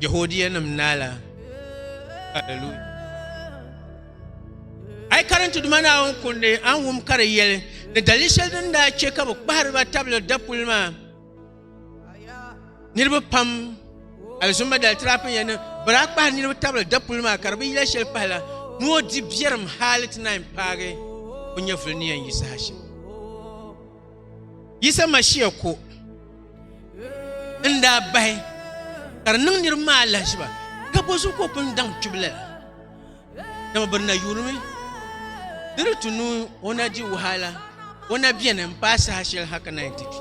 Jehodia nim naala hallelujah ai karinti duma naawuni kundi an wum ka di yɛli ni dali shɛli din daa chɛ ka bi kpahariba tabili dapuli maa niriba pam alizumma dali tirapin ya ni bala kpahi niriba tabili dapuli maa ka di bi yila shɛli pahi la ni o di biɛrim haali ti naan paagi o nyɛvuli ni yɛn yi saha shɛm yisa mashia ko n daa bahi ka di niŋ niriba maa lahiziba ka bɔ zuɣu ka o pun daŋ kpibila la Dama bɛ na yurimi di di tu nuu o na di wahala o na beni n paai saha shɛli ha ka na yɛn ti kpi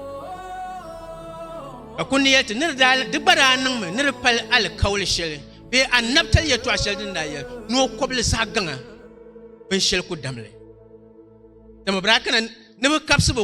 ka ku ni yɛli ti ni di daa di gba daa niŋmi ni di pali alikauli shɛli bee annabitali yɛltɔɣa shɛli din daa yɛli ni o kɔbili zaɣ gaŋa binshɛli ku damli dama bɛ daa kana ni bi kabisi bi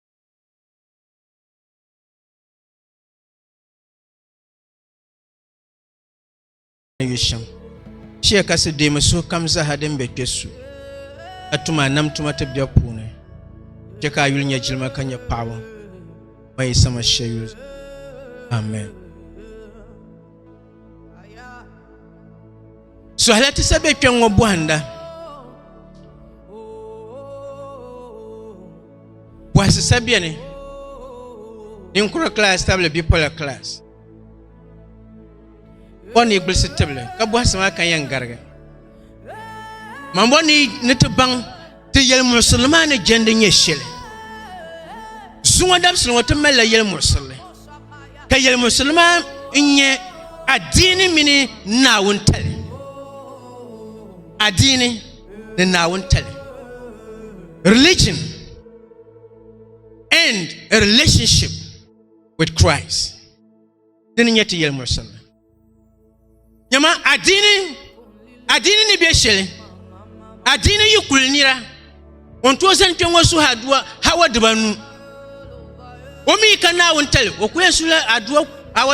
yu shɛm shee ka si deemi suhu kam zaha din be kpe su ka tuma nam tuma ti bɛ puuni chɛ ka a yuli nyɛ jilima ka nyɛ paɣaba ma yi sama shɛyuli amen Suhila ti sa be kpɛŋ ŋɔ bɔhinda. Bɔhisi sa beni ninkura kilaasi tabili bipola kilaasi. O ni gbilisi tibili ka bɔhisi maa kan yɛn garigi. Mambɔ ni ti baŋ ti yɛli muɣisirili maa ni jɛndi nyɛ shɛli zuŋɔ dabisili ŋɔ ti malila yɛli muɣisirili ka yɛli muɣisirili maa n nyɛ adiini mini naawuni tali adiini ni naawuni tali religion and a relationship with Christ dini nyɛ ti yɛli muɣisirili Nyama adiini adiini ni bɛ shɛli adiini yi kuli nira o ni tooi zani kpɛ ŋɔ suhi aduwa hawa dibanu o mi ka naawuni tali o kuli yɛn suhila aduwa hawa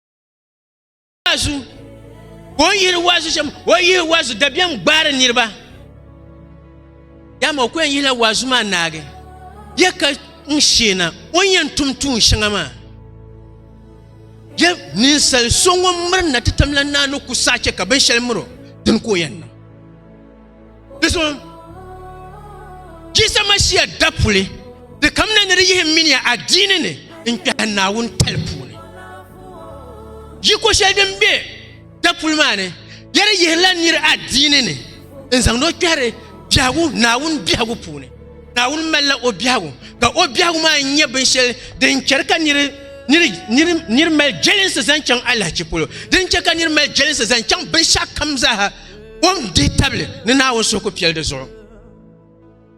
waazu ka o yihiri waazu shɛm o yihi waazu dabiɛm gbaari niriba dama o ku yɛn yihila waazu maa naagi ya ka n sheena o ni yɛn tum tuun shɛŋa maa ya ninsal so ŋun miri na ti tamla naa ni ku saɣa chɛ ka binshɛli miri o dini ka o yɛn niŋ Di so Jisa Mashia dapuli di kamina ni di yihi mini a diini ni n kpɛhi Naawuni tali puuni. Yiko shɛli din be dapuli maa ni ya di yihirila nir a diini ni n zaŋdi o kpɛhiri biɛhigu Naawuni biɛhigu puuni. Naawuni malila o biɛhigu ka o biɛhigu maa nyɛ binshɛli din chɛri ka nir nir mali jɛlinsi zaŋ chaŋ alahichi polo din chɛ ka nir mali jɛlinsi zaŋ chaŋ binshɛɣu kam zaaha o ni dihi tabili ni naawuni suhu ku piɛli di zuɣu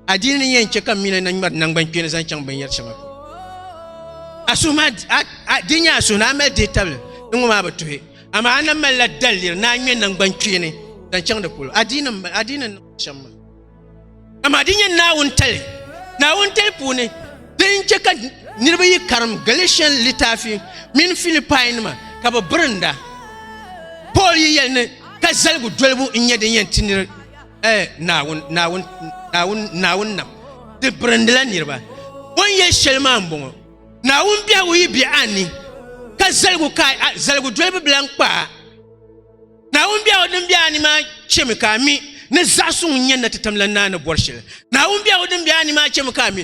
adiini ni yɛn chɛ ka mina na ŋmɛri nangbani kpeeni zaŋ chaŋ binyɛri shɛŋa a suhu maa di nyɛ a suhu ni a mali dihi tabili ni ŋɔ maa bi tuhi amaa a na malila daliri ni a ŋmɛ nangbani kpeeni zaŋ chaŋ di polo adiini n shɛm maa Amaa di nyɛ naawun tali, naawun tali puuni din chɛ ka niriba yi karim Galatian litaafi mini Filipai nima ka bi birinda. Paul yi yɛli ni ka zaligu dolibu n nyɛ din yɛn ti niri eh, naawun, naawun, naawun, naawun nam di birindila niriba. O ni yɛli shɛli maa n bɔŋɔ, naawun biɛhigu yi be a ni, ka zaligu ka a zaligu dolibu bila n kpa a. Naawuni biɛhigu din be a ni maa chemi ka a mi ni zaɣ so ŋun nyɛ natitam la naa ni bɔri shɛli. Naawuni biɛhigu din be a ni maa chemi ka a mi.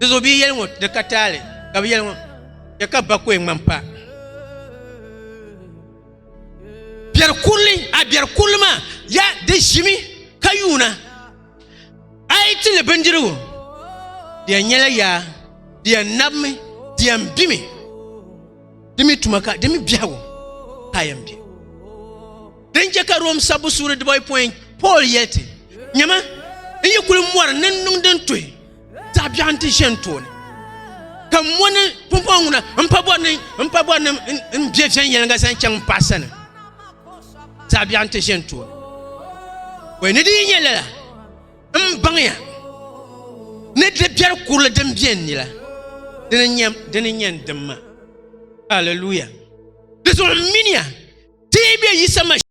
Di zo bi yɛli ŋɔ di ka taali ka bi yɛli ŋɔ ya ka bakoe ŋmani pa. Biɛri kurili a biɛri kurili maa ya di ʒimi ka yuuna a yi ti li bindirigu di yɛn nyɛla yaa di yɛn nabimi di yɛn bimi di mi tuma ka di mi biɛhigu ka a yɛn bɛ din chɛ ka rom sabbu suuri dibɔyi pɔin paul yɛli ti nyɛma n yi kuli mɔri ni n niŋ din tuhi zaɣ biɛɣu n ti ʒɛ n tooni ka n mo ni pumpɔŋ ŋuna n pa bɔri ni n pa bɔri ni n bɛ viɛnyɛliŋga zaŋ chaŋ n paɣa sani zaɣ biɛɣu n ti ʒɛ n tooni wai ni di yi nyɛ lala M baŋya ni di biɛri kurili din bɛ n ni la, dini n-nyɛ n dimma. Alleluia! Di zuɣu m miniya ti yi be Yisa Masihi.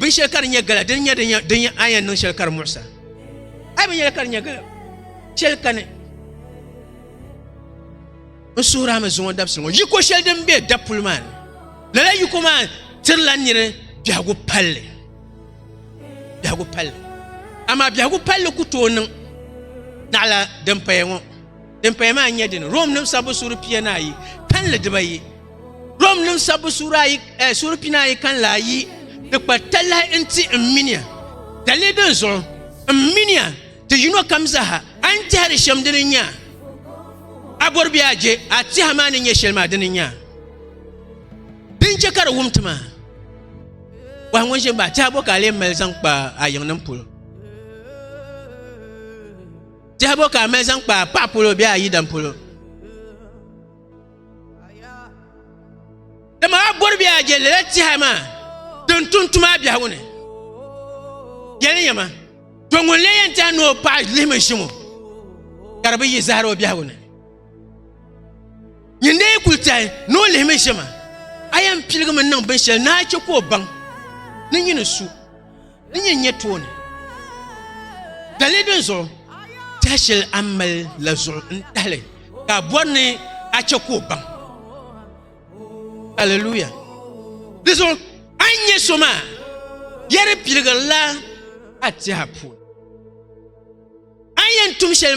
bin shɛli ka di nyɛ gala din nyɛ din nyɛ ayan niŋ shɛli ka di muɣisa a bin yɛli ka di nyɛ gala shɛli kani n suhurami zuŋɔ dabisili ŋɔ yiko shɛli din bɛ dapuli maa ni lala yiko maa tirila niri biɛhagu palli biɛhigu palli amaa biɛhigu palli ku tooi niŋ naɣala din paya ŋɔ din paya maa nyɛ dini rom nim sabbu suuri pia ni ayi kanli dibayi rom nim sabbu suuri ayi eh, suuri pia ni ayi kanli ayi di kpa talahi n ti n minia dalili din zuɣu n minia ti yino kam zaha a ni tɛhiri shɛm dini nya a bɔri bɛ a je a tiha maa ni nyɛ shɛli maa dini nya din chɛ ka di wum ti maa Wahi ŋun ʒini ba tɛhibo ka a lee mali zaŋ kpa a yiŋ nim polo. Tɛhibo ka a mali zaŋ kpa a paɣa polo bee a yidam polo. Dama a bɔri bee a je lala tɛha maa din tum tuma a biɛhigu ni. Yɛli ni yɛma to ŋun lee yɛn tɛha ni o paɣa lihimi ʒiŋo ka di bi yi zahara o biɛhigu ni. Nyin dee kuli tɛhi ni o lihimi ʒɛma a yɛn piligimi niŋ binshɛli ni a chɛ ka o baŋ ni nyin ni su ni nyin nyɛ tooni dali din zuɣu tɛha shɛli a mali la zuɣu n tahili ka a bɔri ni a chɛ ka o baŋ aleluya di zuɣu a ni nyɛ so maa yɛri piligirila a tɛha puuni a yɛn tum shɛli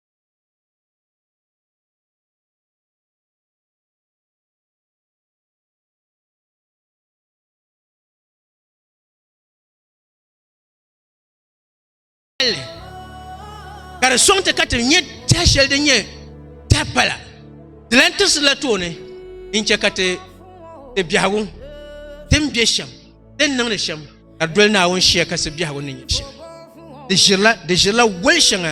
ka di soŋ ti ka ti nyɛ tɛha shɛli din nyɛ tɛha pala di lan tirisi la tooni n chɛ ka ti biɛhigu din bɛ shɛm din niŋdi shɛm ka doli naawuni shia kasi biɛhigu ni nyɛ shɛli di ʒirila di ʒirila woli shɛŋa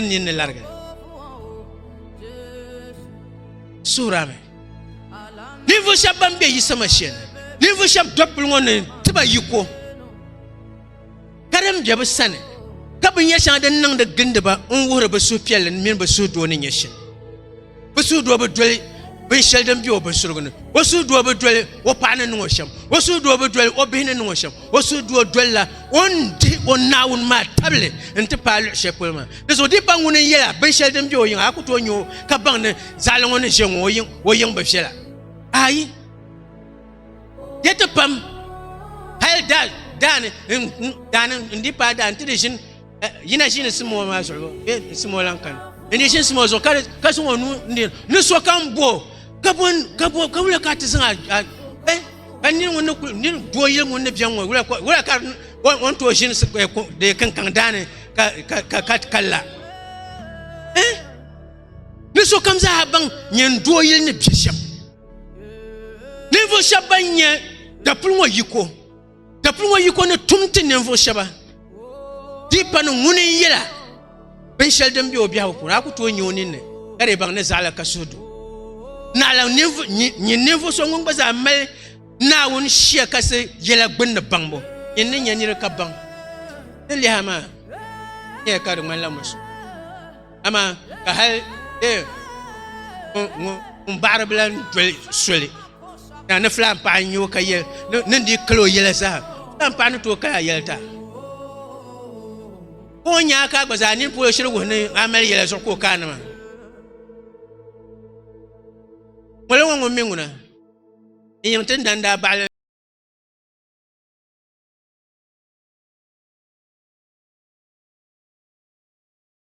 N nyin ni larigi suhura mi ninvuɣu shɛba ban be yisama shɛli ninvuɣu shɛba dɔkpuli ŋɔ ni ti ba yiko ka din be bi sani ka bi nya shɛŋa din niŋdi gindiba n wuhiri bi suhupiɛlli mini bi suhudoo ni nyɛ shɛm o suhudoo bi doli binshɛli din bɛ o binsurigu ni o suhudoo bi doli o paɣa ni niŋ o shɛm o suhudoo bi doli o bihi ni niŋ o shɛm o suhudoo dolila o ni dihi o naawuni maa tabili n ti paai luɣu shɛli polo maa di zuɣu dipa ŋuni n yɛla binshɛli din bɛ o yiŋa a ku tooi nyɛ o ka baŋ ni zaɣali ŋɔ ni ʒɛ ŋɔ o yiŋ bi viɛla ayi di ti pam hali daani daani n di paai daani ti di ʒini yina ʒini simo maa zuɣu bee n simo lan kani n di ʒini simo zuɣu ka zaŋ o nuu n di ni so ka n bo ka bo ka bo ka wula ka ti zaŋ eh ka nini ŋun ni kuli nini doo yili ŋun ni biɛŋ ŋɔ wula wula ka on tooi ʒini de kankaŋ daani ka ka ka ka la eh ni so kam zaa baŋ nyɛ n doo yili ni bia shɛm ninvuɣu shɛba ban nyɛ dapuli ŋɔ yiko ka pun ŋɔ yiko ni tum ti ninvuɣu shɛba dipa ni ŋuni n yɛla binshɛli din be o biɛhigu puuni a ku tooi nya o ninni ka di baŋ ni zaɣila ka suhu du naɣila nyin ninvuɣu so ŋun gba zaa mali naawuni shia kasi yɛla gbunni baŋbu nyin ni nya niri ka baŋ ni liha maa nyɛya ka di ŋmanila musu amaa ka hali ee ŋun- ŋun ŋun baɣari bila n doli soli na ni filan paɣa n nyɛ o ka yɛ ni- ni di kalo yɛla zaa filan paɣa ni tooi kaya yɛli ta ka o nyaa ka gba zaa nini polo shiri wuhi ni a mali yɛla zuɣu ka o kaa nima ŋoli ŋɔ ŋun mi ŋuna n yiŋ ti dan daa baɣali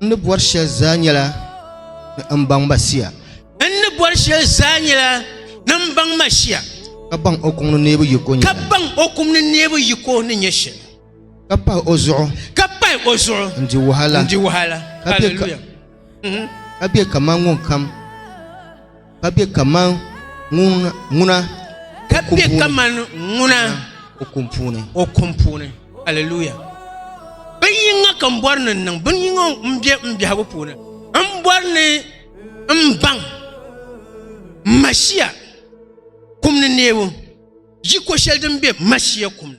N ni bɔri shɛli zaa nyɛla ni n baŋ ma shia. N ni bɔri shɛli zaa nyɛla ni n baŋ ma shia. Ka baŋ o kum ni neebu yiko ni nyɛ shɛli. Ka baŋ o kum ni neebu yiko ni nyɛ shɛli. Ka pahi o zuɣu. Ka pahi o zuɣu. N di wahala. N di wahala. Hallelujah. Ka bɛ kaman ŋun kam. Ka be kaman ŋuna. Ka be kaman ŋuna. O kum puuni. O kum puuni. Hallelujah. Bin yinga ka n bɔri ni n niŋ bin yinga n bɛ n biɛhigu puuni n bɔri ni n baŋ mashia kum ni neebu yi ko shɛli din bɛ mashia kum ni.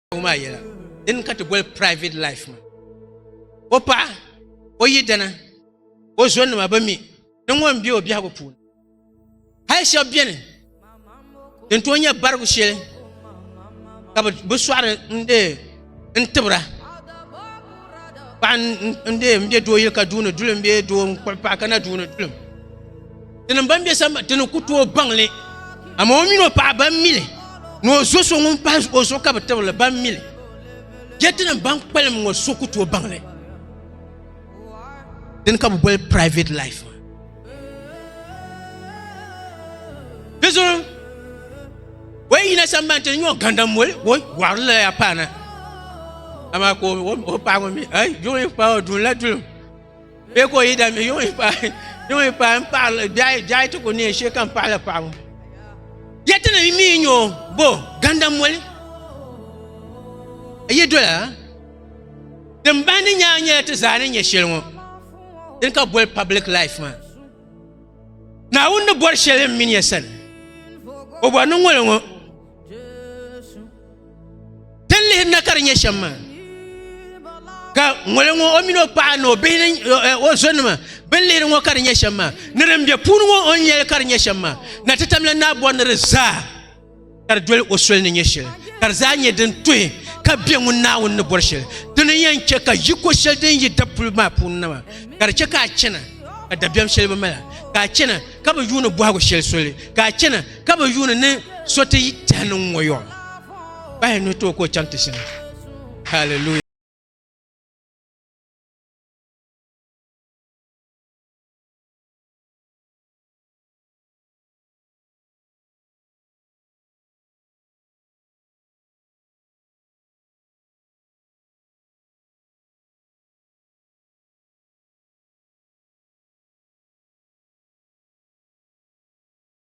maa yɛla din ka ti boli private life ma o paɣa o yidana o zonima bi mi ni ŋɔ n bɛ o biɛhigu puuni hali shɛba bɛni din tooi nyɛ barigu shɛli ka bi sɔɣiri n dee n tibira paɣa n dee n bɛ doo yili ka duuni duli n bɛ doo n kpuɣi paɣa ka na duuni duli Tinim ban be samba tini ku tooi baŋli, amaa o mini o paɣa ban mi li ni o zo so ŋun pahi o zuɣu ka bi tibiri li ban mi li. Chɛ tinim ban kpalim ŋɔ so ku tooi baŋli. Dini ka bɛ boli private life maa. Di zuɣu o yi yina sambani tini nyɛ o gandam moli o wɔɣirila ya paana amaa ka o paɣa ŋɔ mi ai jo yi paai o duunila dulim Bɛ ka o yi dami yuŋ yi paai yuŋ yi paai n paɣali biɛhi biɛhi ti ku neei shee ka n paɣala paɣabu yɛti ni mii nyɛ o bo gandam moli yi dola din bahindi nyaa nyɛla ti zaa ni nyɛ shɛli ŋɔ din ka boli public life maa naawuni ni bɔri shɛli n mini ya sani o bɔri ni ŋɔli ŋɔ Tin lihi na ka di nyɛ shɛm maa ka ŋoli ŋɔ o mini o paɣa ni o bihi ni eh, o zonima bin lihiri ŋɔ ka di nyɛ shɛm maa ni din bɛ puuni ŋɔ o nyɛli ka di nyɛ shɛm maa na ti tamla naa bɔri ni di zaa ka di doli o soli ni nyɛ shɛli ka di zaa nyɛ din tuhi ka bɛ ŋun naawuni ni bɔri shɛli dini yɛn chɛ ka yiko shɛli din yi dapuli maa puuni na maa ka di chɛ ka a chɛna ka dabiɛm shɛli bi mala ka a chɛna ka bi yuuni bɔhigu shɛli soli ka a chɛna ka bi yuuni ni so ti tɛhi niŋ ŋɔ yɔɔ bahi ni tooi ka o chaŋ ti shini hallelujah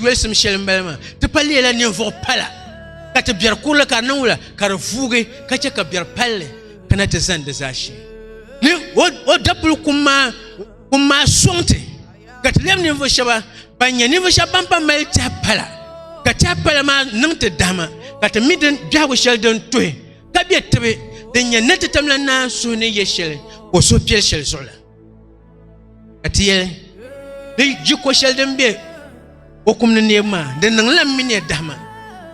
yolisim shɛli m-bala maa ti pa leela ninvuɣ pala ka ti biɛri kurili ka di niŋ wula ka di vuugi ka chɛ ka biɛri palli kana ti zani di zaashee ni o dapuli kum maa kum maa sɔŋ ti ka ti lɛbi ninvuɣ shɛba ban nyɛ ninvuɣ shɛba ban pa mali tɛha pala ka tɛha pala maa niŋ ti dahima ka ti mi din biɛhigu shɛli din tuhi ka be tibi din nyɛ ni ti tamla naan suhi ni yɛ shɛli ka o suhu piɛli shɛli zuɣu la ka ti yɛli di ji ko shɛli din bɛ o kum ni neebu maa di niŋla mi ne dahima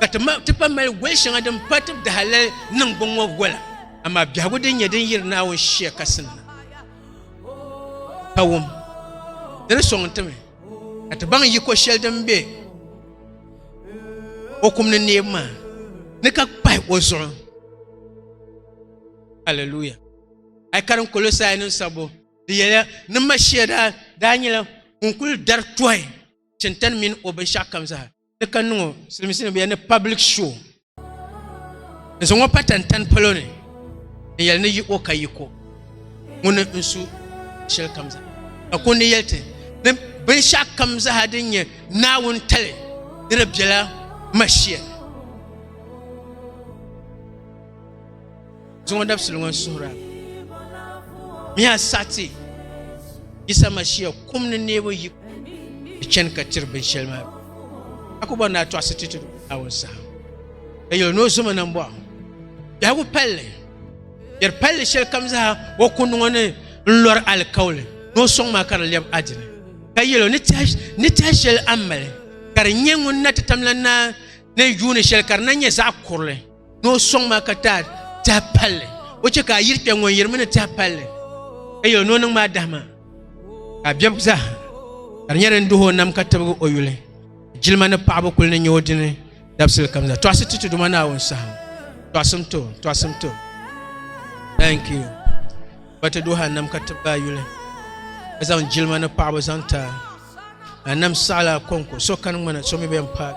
ka ti pa mali goli shɛŋa din pa ti dahalali niŋ bin ŋɔ gola amaa biɛhigu din nyɛ din yiri naawuni shia kasim na ka wum di ni sɔŋ timi ka ti baŋ yiko shɛli din bɛ o kum ni neebu maa ni ka kpahi o zuɣu hallelujah a yi karim kolosai nim sabbu di yɛla ni mashia daa daa nyɛla ŋun kuli dari tɔhi chintan mini o binshaɣu kam zaa ni ka niŋ o silimiinsi ni bɛ ni public show n zaŋ o pa tantani palo ni n yɛli ni yi o ka yi ko ŋuni n su shɛli kam zaa ka ko ni yɛli ti ni binshaɣu kam zaa din nyɛ naawuni tali ni di biɛla mashia Zuŋɔ dabisili ŋɔ suhira miya sati Yisa Mashia kum ni neebu yi di chani ka tiri binshɛli maa a ku bɔri ni a tɔɣisi ti ti Naawuni saha ka yɛli ni o zoma nam bɔɣu biɛhigu palli yɛri palli shɛli kam zaa o kundi ŋɔ ni n lɔri alikauli ni o sɔŋ maa ka di lɛbi adini ka yɛli ni tɛha shɛli a mali ka di nyɛ ŋun na ti tamla na ni yuuni shɛli ka di na nyɛ zaɣ kurili ni o sɔŋ ma ka ti a tihi palli o chɛ ka a yiri kpɛ ŋun yirimi ni tihi palli ka yɛ o ni o niŋ maa dahima ka a biɛbigi zaa ka di nyɛ din duhi o nam ka tibigi o yuli jilima ni paɣaba kuli ni nyɛ o dini dabisili kam zaa tɔɣisi ti tuduma naawuni saha tɔɣisim to tɔɣisim to thank you ba ti duhi a nam ka tibigi a yuli ka zaŋ jilima ni paɣaba zaŋ ti a a nam saɣala a kɔŋko so kani ŋmana so mi bɛn paai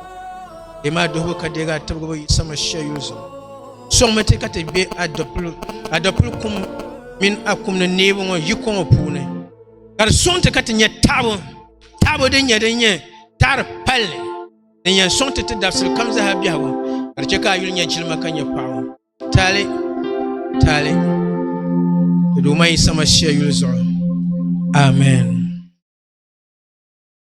di maa duhibu ka deegi a tibigibu yi sama shɛli yuli zuɣu sɔŋmi ti ka ti bɛ adɔpili kum mini a kum ni neebu ŋɔ yi kɔŋɔ puuni ka di sɔŋ ti ka ti nyɛ taɣabu taɣabu din nyɛ din nyɛ taɣari palli din yɛn sɔŋ ti ti dabisili kam zaha biɛhigu ka di chɛ ka a yuli nyɛ jilima ka nyɛ paɣabu Taali taali Duuma Yisa Mashia yuli zuɣu. Amen.